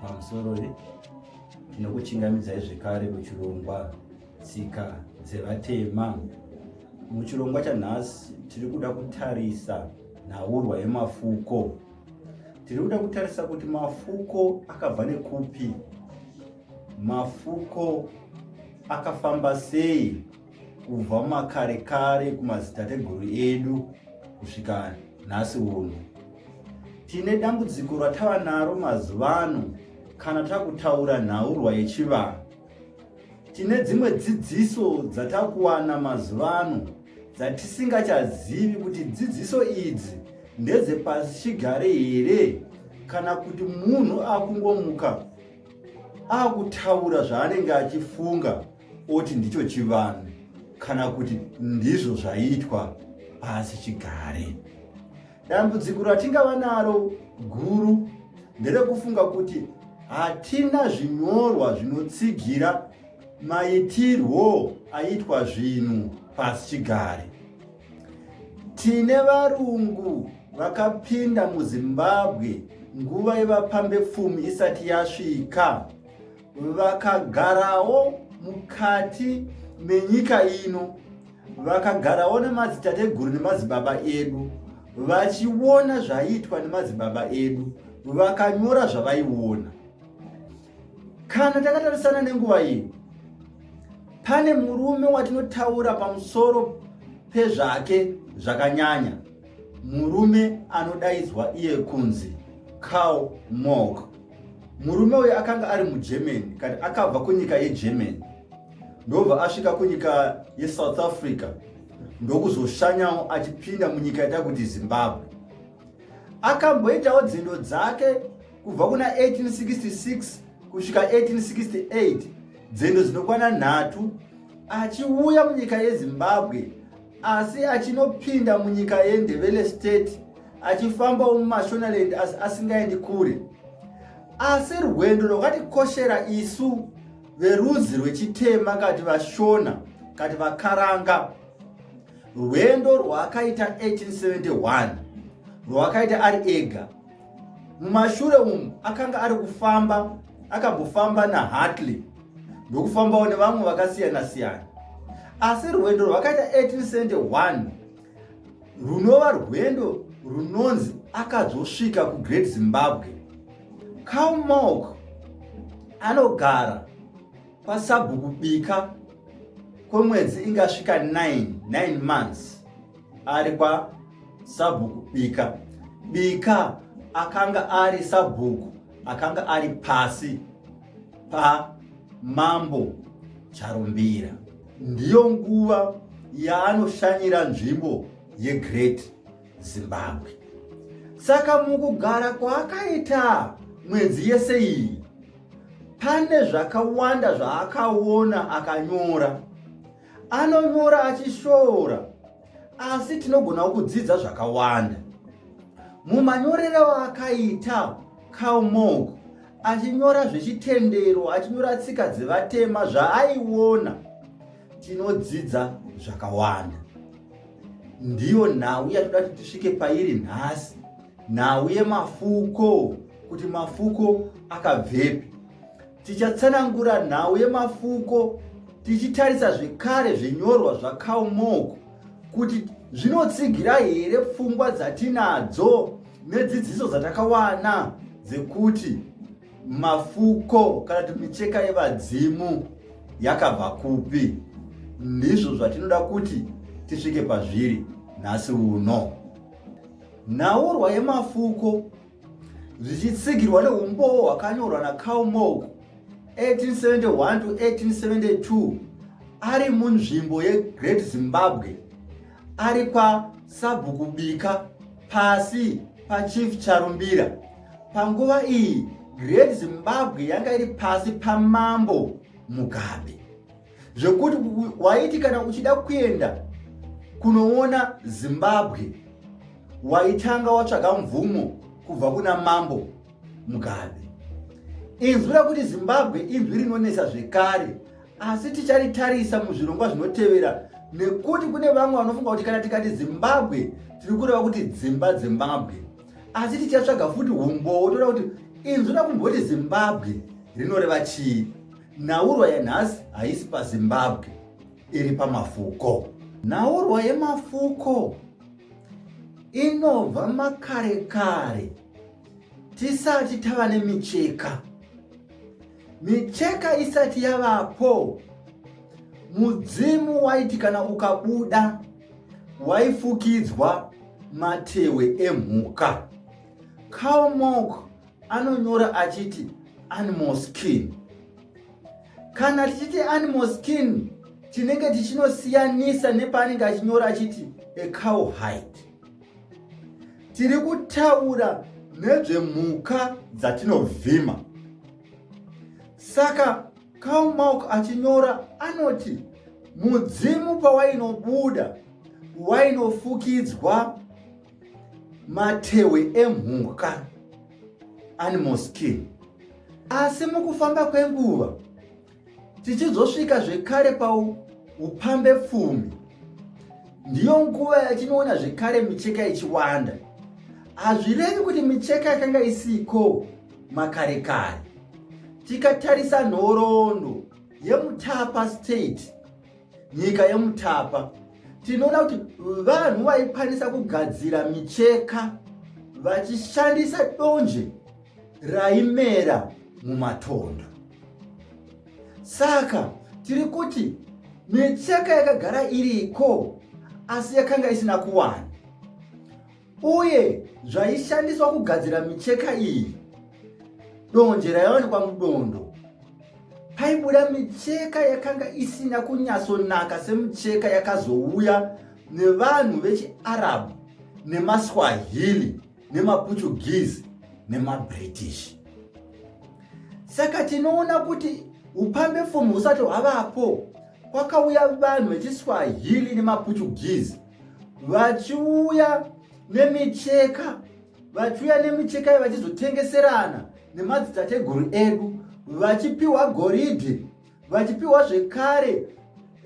pamusoro nekuchingamidzai zvekare kuchirongwa tsika dzevatema muchirongwa chanhasi tiri kuda kutarisa nhaurwa yemafuko tiri kuda kutarisa kuti mafuko akabva nekupi mafuko akafamba sei kubva makare kare kumadzitateguru edu kusvika nhasi uno tine dambudziko ratava naro mazuva ano kana takutaura nhaurwa yechivanhu tine dzimwe dzidziso dzatakuwana mazuva ano dzatisingachazivi kuti dzidziso idzi ndedzepasichigare here kana kuti munhu akungomuka akutaura zvaanenge achifunga oti ndicho chivanhu kana kuti ndizvo zvaiitwa pasi chigare. Dambudziko ratingava naro guru nderekufunga kuti hatina zvinyorwa zvinotsigira maitirwo aitwa zvinhu pasi chigare. Tine varungu vakapinda muZimbabwe nguva yevapambepfumi isati yasvika. vakagarawo mukati menyika ino vakagarawo nemadzitateguru nemadzibaba edu vachiona zvaiitwa nemadzibaba edu vakanyora zvavaiona kana takatarisana nenguva iyi pane murume watinotaura pamusoro pezvake zvakanyanya Murume anodaidzwa iye kunzi Karl Morg. Murume uyu akanga ari muGermany kani akabva kunyika yeGermany ndobva asvika kunyika yeSouth Africa ndokuzoshanyawo achipinda munyika ita kuti Zimbabwe. Akamboitawo dzindo dzake kubva kuna 1866 kusvika 1868 dzendo dzinokwana nhatu achiuya munyika yezimbabwe asi achinopinda munyika yendevele state achifambawo mumashonaland asi asingaendi kure asi rwendo rwakatikoshera isu verudzi rwechitema kati vashona kati vakaranga rwendo rwaakaita 1871 rwakaita ari ega Mumashure umu akanga ari kufamba akambofamba naHartley ndokufambawo nevamwe vakasiyana siyana asi rwendo rwakaita 18 cent 1 runova rwendo runonzi akazosvika kugreat zimbabwe calmok anogara kwasabhuku bika kwemwedzi ingasvika 99 months ari kwasabhuku bika bika akanga ari sabhuku akanga ari pasi pamambo charumbira ndiyo nguva yaanoshanyira nzvimbo yegreat zimbabwe saka mukugara kwaakaita mwedzi yese iyi pane zvakawanda zvaakaona akanyora anonyora achishoora asi tinogonawo kudzidza zvakawanda mumanyorero akaita calmog achinyora zvechitendero achinyora tsika dzevatema zvaaiona tinodzidza zvakawanda ndiyo nhau yatoda kuti tisvike pairi nhasi nhau yemafuko kuti mafuko akabvepi Tichatsanangura nhau yemafuko tichitarisa zvekare zvinyorwa zvakaumoko kuti zvinotsigira here pfungwa dzatinadzo nedzidziso dzatakawana dzekuti mafuko kana kuti micheka yevadzimu yakabva kupi ndizvo zvatinoda kuti tisvike pazviri nhasi uno nhaurwa yemafuko zvichitsigirwa neumbowo hwakanyorwa nacarl mog 1871 to 1872 ari munzvimbo yegreat zimbabwe ari kwasabhuku bika pasi pachief charumbira panguva iyi great zimbabwe yanga iri pasi pamambo mugabe zvekuti waiti kana uchida kuenda kunoona zimbabwe waitanga watsvaga mvumo kubva kuna mambo mugabe inzwi rakuti zimbabwe inzwi rinonetsa zvekare asi ticharitarisa muzvirongwa zvinotevera nekuti kune vamwe vanofunga kuti kana tikati zimbabwe tiri kureva kuti dzimba dzimbabwe asi tichatsvaga futi umbowo toda kuti inzwi rakumboti zimbabwe rinoreva chii Nhaurwa yanhasi haisi paZimbabwe, iri pamafuko. Nhaurwa yemafuko inobva makare kare tisati tava nemicheka. Micheka isati yavapo, mudzimu waiti kana ukabuda waifukidzwa matewe emhuka. Cowmok anonyora achiti animal skin kana tichiti animal skin tinenge tichinosiyanisa nepaanenge achinyora achiti a cow hide tiri kutaura nezvemhuka dzatinovhima saka cow milk achinyora anoti mudzimu pawainobuda wainofukidzwa matehwe emhuka animal skin asi mukufamba kwenguva tichizosvika zvekare paupambe pfumi ndiyo nguva yatinoona zvekare micheka ichiwanda hazvirevi kuti micheka yakanga isiko makare kare tikatarisa nhoroondo yemutapa state nyika yemutapa tinoona kuti vanhu vaikwanisa kugadzira micheka vachishandisa donje raimera mumatondo saka tiri kuti micheka yakagara iriko asi yakanga isina kuwana uye zvaishandiswa kugadzira micheka iyi donje raiwanikwa mudondo paibuda micheka yakanga isina kunyatsonaka semicheka yakazouya nevanhu vechiarab nemaswahili nemaportuguese nemabritish saka tinoona kuti upambe fomu husati hwavapo kwakauya vanhu vechiswahili nemaportuguese vachiuya nemicheka vachiuya nemicheka vachizotengeserana nemadzitateguru edu vachipiwa goridhe vachipiwa zvekare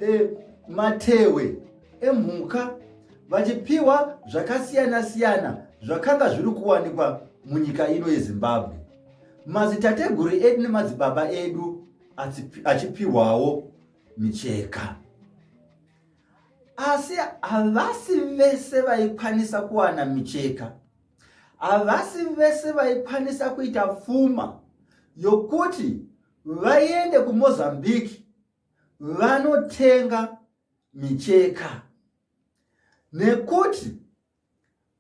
e, matewe emhuka vachipiwa zvakasiyana siyana zvakanga zviri kuwanikwa munyika ino yezimbabwe mazitateguru edu nemadzibaba edu achipiwawo micheka asi havasi vese vaikwanisa kuwana micheka havasi vese vaikwanisa kuita pfuma yokuti vaende kumozambique vanotenga micheka nekuti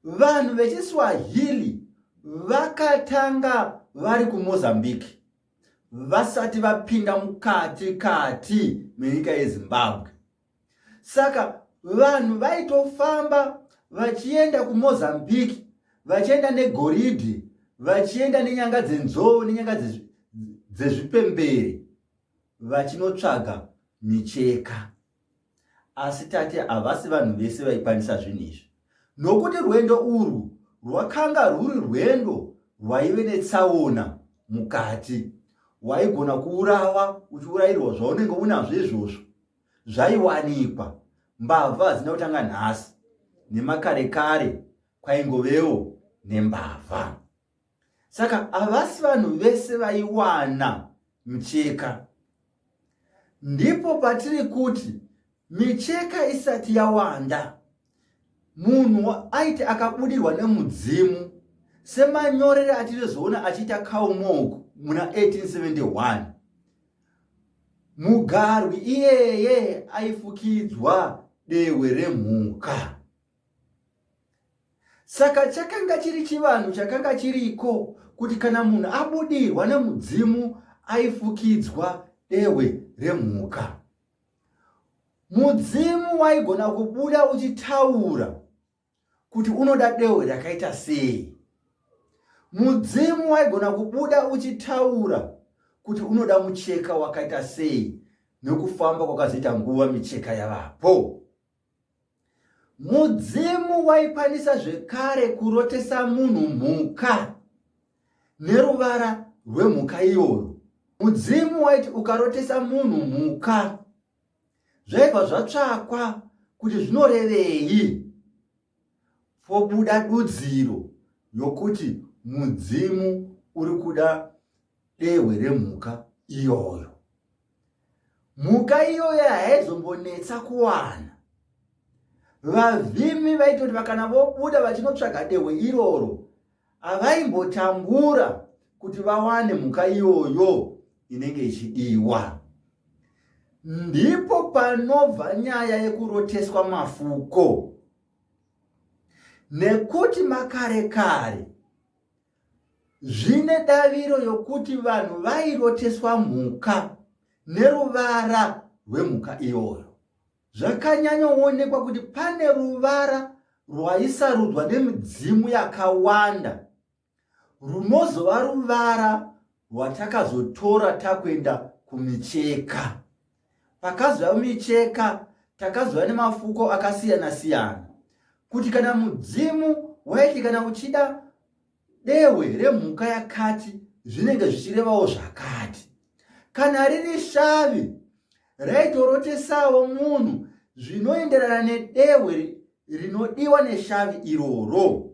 vanhu vechiswahili vakatanga vari kumozambique vasati vapinda mukati kati menyika yezimbabwe saka vanhu vaitofamba vachienda kumozambique vachienda negoridhi vachienda nenyanga dzenzou nenyanga dzezvipemberi vachinotsvaga micheka Asi tati havasi vanhu vese vaikwanisa zvinhu izvi, nokuti rwendo urwu rwakanga rwuri rwendo rwaive netsaona mukati. Waigona kuurawa uchiurayirwa zvaunenge unazvo izvozvo zvaiwanikwa. Mbavha hadzina kutanga nhasi, nemakare kare kwaingovewo nembavha. saka havasi vanhu vese vaiwana micheka ndipo patiri kuti micheka isati yawanda munhu aiti akabudirwa nemudzimu semanyorere atinozoona achiita kaumog muna 1871 mugarwi iyeye aifukidzwa dehwe remhuka Saka chakanga chiri chivanhu chakanga chiriko kuti kana munhu abudirwa nemudzimu aifukidzwa dehwe remhuka. Mudzimu waigona kubuda uchitaura kuti unoda dehwe rakaita sei. Mudzimu waigona kubuda uchitaura kuti unoda mucheka wakaita sei nokufamba kwakazoita nguva micheka yavapo. Mudzimu waikwanisa zvekare kurotesa munhu mhuka neruvara rwemhuka iyoyo. Mudzimu waiti ukarotesa munhu mhuka zvaibva zvatsvakwa kuti zvinorevei pobuda dudziro yokuti mudzimu uri kuda dehwe remhuka iyoyo. mhuka iyoyo haizombonetsa kuwana vavhimi vaitoti vakana vobuda vachinotsvaga dehwe iroro havaimbotambura kuti vawane mhuka iyoyo inenge ichidiwa ndipo panobva nyaya yekuroteswa mafuko nekuti makare kare zvine daviro yokuti vanhu vairoteswa mhuka neruvara rwemhuka iyoyo zvakanyanyoonekwa kuti pane ruvara rwaisarudzwa nemidzimu yakawanda runozova ruvara rwatakazotora takuenda kumicheka pakazova micheka takazova nemafuko akasiyana siyana kuti kana mudzimu waiti kana uchida dehwe remhuka yakati zvinenge zvichirevawo zvakati kana riri shavi raitorotesawo munhu zvinoenderana nedehwe rinodiwa neshavi iroro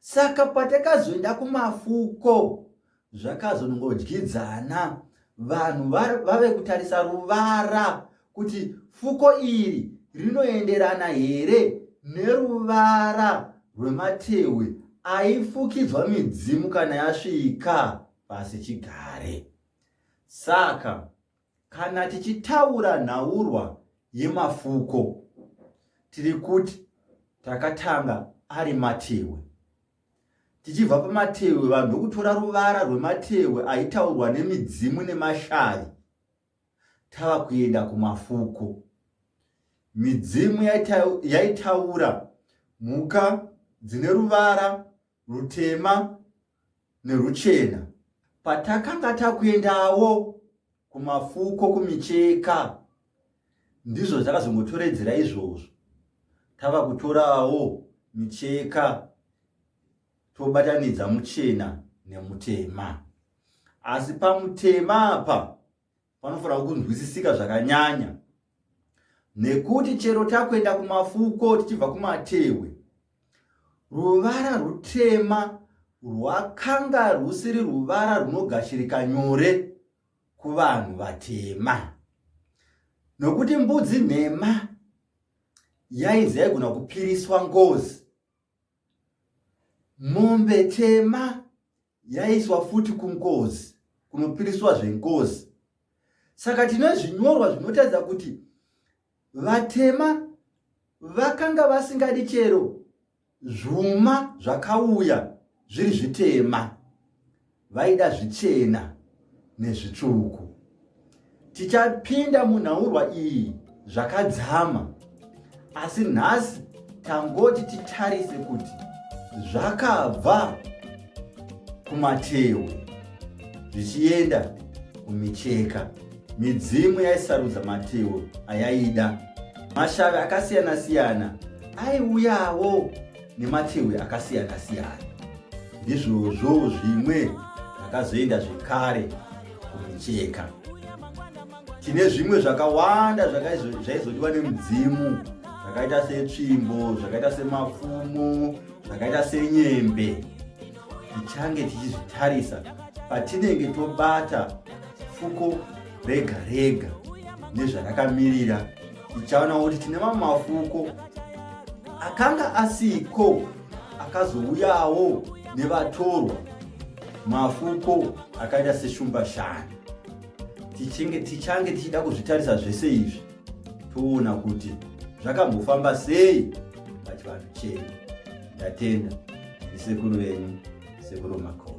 saka patakazoenda kumafuko zvakazongodyidzana vanhu vave kutarisa ruvara kuti fuko iri rinoenderana here neruvara rwematehwe aifukidzwa midzimu kana yasvika pasi chigare saka Kana tichitaura nhaurwa yemafuko tiri kuti takatanga ari matehwe. Tichibva pamatehwe vanhu ndokutora ruvara rwematehwe aitaurwa nemidzimu nemashavi tava kuenda kumafuko. Midzimu yaitaura mhuka dzine ruvara rutema neruchena. Patakanga takuendawo kumafuko kumicheka ndizvo zvakazongotoredzera izvozvo tava kutorawo micheka tobatanidza muchena nemutema asi pamutema apa panofanira kunzwisisika zvakanyanya nekuti chero takuenda kumafuko tichibva kumatehwe ruvara rutema rwakanga rwusiri ruvara runogashirika nyore kuvanhu vatema nokuti mbudzi nhema yaizi yaigona kupiriswa ngozi Mombe tema yaiswa futi kunkozi kunopiriswa zvenkozi. Saka tine zvinyorwa zvinotaridza kuti vatema vakanga vasingadi chero zvuma zvakauya zviri zvitema. vaida zvichena nezvitsvuku tichapinda munhaurwa iyi zvakadzama asi nhasi tangoti titarise kuti zvakabva kumatewe zvichienda kumicheka midzimu yaisarudza matewe ayaida mashavi akasiyana-siyana aiuyawo nemachehwe akasiyana siyana ndizvozvo zvimwe zvakazoenda zvekare kumicheka tine zvimwe zvakawanda zvaizodiwa nemudzimu zvakaita setsvimbo zvakaita semafumo zvakaita senyembe tichange tichizvitarisa patinenge tobata fuko rega rega nezvarakamirira tichaona kuti tine mamwe mafuko akanga asiko akazouyawo nevatorwa mafuko akaita seshumbashani tichange tichida kuzvitarisa zvese izvi toona kuti zvakambofamba sei pachivanhu chenyu ndatenda ndisekuru venyu sekuru makona